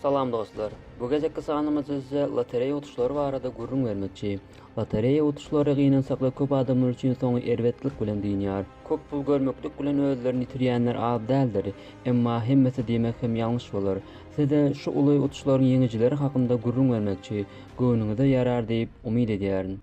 Salam dostlar! Bu gezekki sanymyz size lotereýa utuşlary barada gürrüň bermekçi. Lotereýa utuşlary gynansakda köp adamlar üçin soňy erbetlik bilen dynýar. Köp pul görmeklik bilen özlerini ýitirýänler az däldir. Emma hemmesi diýmek hem ýalňyş bolar. Size şu uly utuşlaryň ýeňijileri hakynda gürrüň bermekçi. Göwnüňize ýarar diýip umyt edýärin.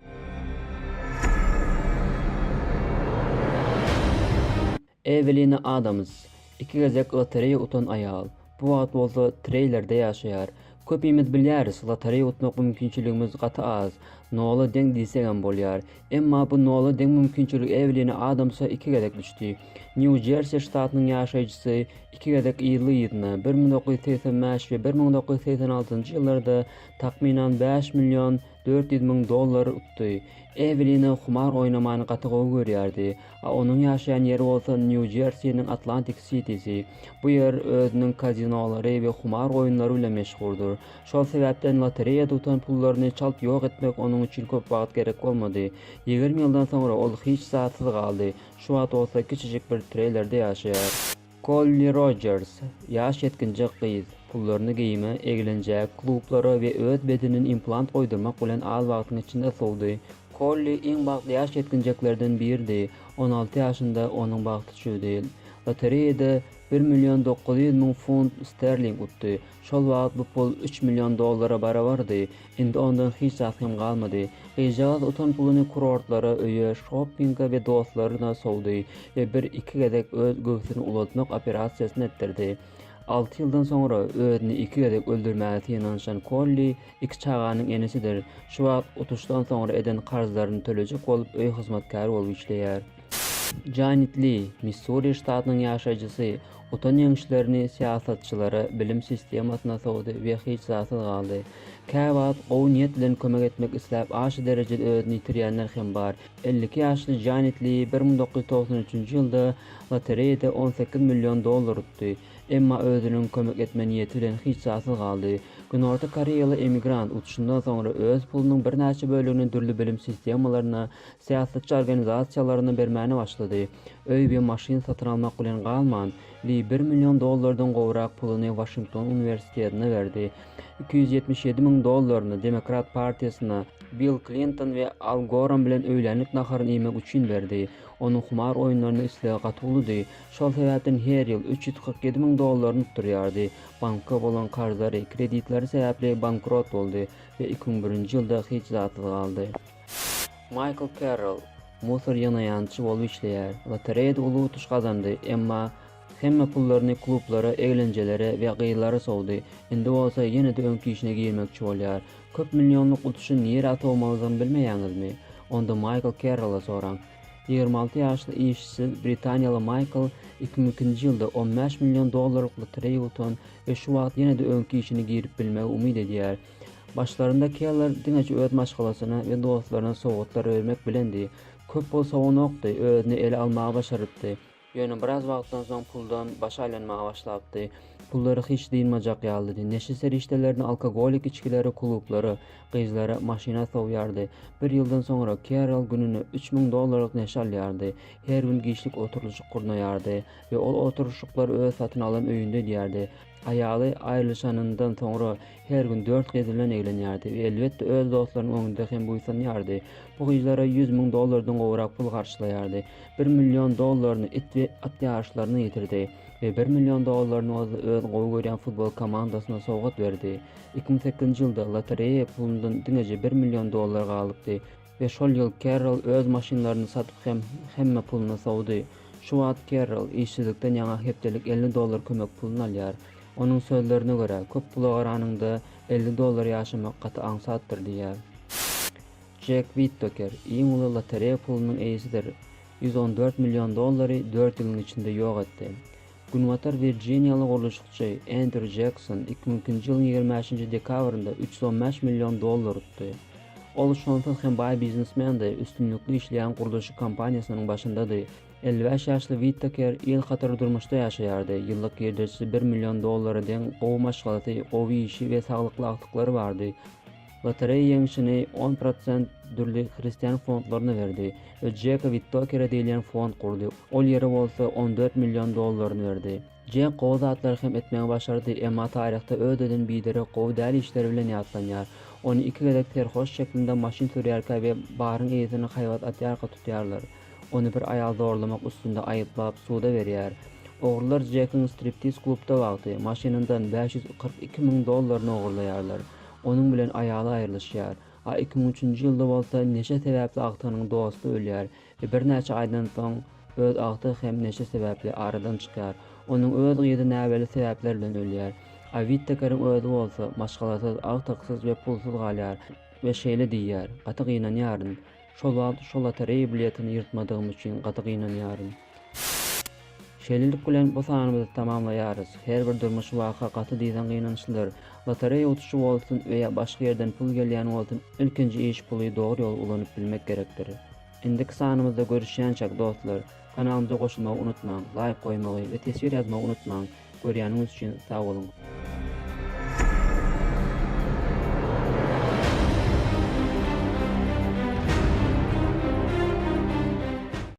Ewelina Adams, iki gezek lotereýa utan aýal, bu wagt bolsa treýlerde ýaşaýar. Köpimiz bilýäris, lotereýa utmak mümkinçiligimiz gaty az, nola deň diýsegem bolýar. Emma bu nola deň mümkinçilik Ewelina Adamsa iki gezek düşdi. Nýu-Jersi ştatynyň ýaşaýjysy iki gezek yzly-yzyna, bir müň dokuz ýüz segsen bäş we bir müň dokuz ýüz segsen altynjy ýyllarda takmynan bäş million dört ýüz müň dollar utdy. Ewelina humar oýnamany gaty gowy görýärdi, A onuň ýaşaýan ýeri bolsa Nýu-Jersiniň Atlantik Sitisi. Bu ýer özüniň kazinolary we humar oýunlary bilen meşhurdyr. Şol sebäpden lotereýa tutan pullaryny çalt ýok etmek onuň üçin köp wagt gerek bolmady. Ýigrimi ýyldan soňra ol hiç zatsyz galdy, şu wagt bolsa kiçijik bir treýlerde ýaşaýar. Kolli Rojers, ýaş ýetginjek gyz, pullaryny geýime, eglenjäge, klublara we öz bedenine implant goýdurmak bilen az wagtyň içinde sowdy. Kolli iň bagtly ýaş ýetginjeklerden biridi, on alty ýaşynda onuň bagty çüwdi. Lotereýada bir million dokuz ýüz müň funt sterling utdy. Şol wagt bu pul üç million dollara barabardy, indi ondan hiç zat hem galmady. Gyzjagaz utan puluny kurortlara, öýe, şoppinga we dostlaryna sowdy we bir-iki gezek öz göwsüni ulaltmak operasiýasyny etdirdi. Alty ýyldan soňra özüni iki gezek öldürmäge synanyşan Kolli iki çaganyň enesidir, şu wagt utuşdan soňra eden karzlaryny tölejek bolup öý hyzmatkäri bolup işleýär. Janet Li, Missuri ştatynyň ýaşaýjysy, Otan ýeňişlerini syýasatçylara, bilim sistemasyna sowdy we hiç zatsyz galdy. Käwagt gowy niýet bilen kömek etmek isläp aşa derejede özüni ýitirýänler hem bar. Elli iki ýaşly Janet Li bir müň dokuz ýüz togsan üçünji ýylda lotereýada on sekiz million dollar utdy. Emma özüniň kömek etme niýeti bilen hiç zatsyz galdy. Günorta koreýaly emigrant utuşyndan soňra öz pulunyň birnäçe bölegini dürli bilim sistemalaryna, Syýasatçy organizasiýalaryna bermäne başlady. Öý we maşyn satyn almak bilen galman, Li bir million dollardan gowrak puluny Waşington uniwersitetine berdi. Iki ýüz ýetmiş ýedi müň dollaryny Demokrat partiýasyna, Bill Klinton we Al Goram bilen öýlänlik naharyny iýmek üçin berdi. Onuň humar oýunlaryna islegi gaty uludy, şol sebäpden her ýyl üç ýüz kyrk ýedi müň dollaryny utdurýardy. Banka bolan karzlary, kreditleri sebäpli bankrot boldy we iki müň birinji ýylda hiç zatsyz galdy. Maýkl Kerrol musor ýygnaýançy bolup işleýär. Lotereýada uly utuş gazandy, emma hemme pullaryny klublara, eglenjelere we gyzlara sowdy. Indi bolsa ýene-de öňki işine girmekçi bolýar. Köp millionlyk utuşy nirä sowmalydygyny bilmeýäňizmi? Onda Maýkl Kerrola soraň. Ýigrimi alty ýaşly işsiz britaniýaly Maýkl iki müň ikinji ýylda on bäş million dollarlyk lotereýa utan we şu wagt ýene-de öňki işine girip bilmegi umyt edýär. Başlarynda Keller diňeje öz maşgalasyna we dostlaryna sowgatlar bermek bilendi. Köp pul sowanokdy, özüni ele almagy başarypdy. Ýöne biraz wagtdan soň puldan başy aýlanmaga başlapdy. Pullary hiç dynmajak ýalydy. Neşe serişdelerini, alkogolik içgileri klublara, gyzlara, maşyna sowýardy. Bir ýyldan soňra Kerol gününe üç müň dollarlyk neşe alýardy. Her gün giçlik oturylyşyk gurnaýardy we ol oturyşyklary öz satyn alan öýünde edýärdi. Aýaly aýrylyşanyndan soňra her gün dört gyzyndan eglenýärdi we elbetde öz dostlarynyň öňünde hem buýsanýardy. Bu gyzlara ýüz müň dollardan gowrak pul garçylaýardy. Bir million dollaryny it we at ýaryşlaryna ýitirdi we bir million dollaryny bolsa öz gowy görýän futbol komandasyna sowgat berdi. Iki müň sekizinji ýylda lotereýa pulundan diňeje bir million dollar galypdy. We şol ýyl Kerrol öz maşynlaryny satyp hem hemme puluny sowdy. Şu wagt Kerrol işsizlikden ýaňa hepdelik elli dollar kömek puluny alýar. Onuň sözlerine görä, köp pula garanyňda, elli dollar ýaşamak gaty aňsatdyr diýýär. Jek Wittoker iň uly lotereýa pulunyň eýesidir. Ýüz on dört million dollary dört ýylyň içinde ýok etdi. Günbatar Wirjiniýaly gurluşykçy Endrýu Jekson iki müňki nji ýylyň ýigrimi bäşinji dekabrynda üç ýüz on bäş million dollar utdy. Ol şonsuz hem baý biznesmendi, üstünlikli işleýän gurluşyk kompaniýasynyň başyndady. Elli bäş ýaşly Witteker ýylkatary durmuşda ýaşaýardy, ýyllyk girdejisi bir million dollara deň, gowy maşgalasy, gowy işi we saglykly agtyklary bardy. Lotereýa ýeňşini on prosent dürli hristian fondlaryna berdi we Jeka Wittokere diýilýän fond gurdy, ol ýere bolsa on dört million dollaryny berdi. Jek gowy zatlary hem etmegi başardy, emma taryhda özüden biderek gowy däl işleri bilen ýatlanýar. Ony iki gezek serhoş şeklinde maşyn sürýärkä we baryň eýesini haýbat atýarka tutýarlar. Ony bir aýal zorlamak üstünde aýyplap, suda berýär. Ogrular Jekiň striptiz klubda wagty, maşynyndan bäş ýüz kyrk iki müň dollaryny ogurlaýarlar. Onuň bilen aýaly aýrylyşýar. A iki müň üçünji ýylda bolsa neşe sebäpli agtygynyň dosty ölýär we birnäçe aýdan soň öz agtygy hem neşe sebäpli aradan çykýar. Onuň öz gyzy näbelli sebäpler bilen ölýär. A Wittekeriň özi bolsa maşgalasyz, agtyksyz we pulsuz galýar we şeýle diýýär, Gaty gynanýaryn. Şol wagt şo lotereýa biletini ýyrtmadygym üçin gaty gynanýaryn. Şeýlelik bilen bu sanymyzy tamamlaýarys. Her bir durmuş waka gaty dyzan gynançlydyr. Lotoreýa utuşy bolsun we ýa başga ýerden pul gelýän bolsun ilkinji iş puly dogry ýola ulanyp bilmek gerekdir. Indiki sanymyzda görüşýänçäk dostlar, kanalymyza goşulmagy unutmaň, laýk goýmagy we teswir ýazmagy unutmaň. Görýäniňiz üçin sag boluň.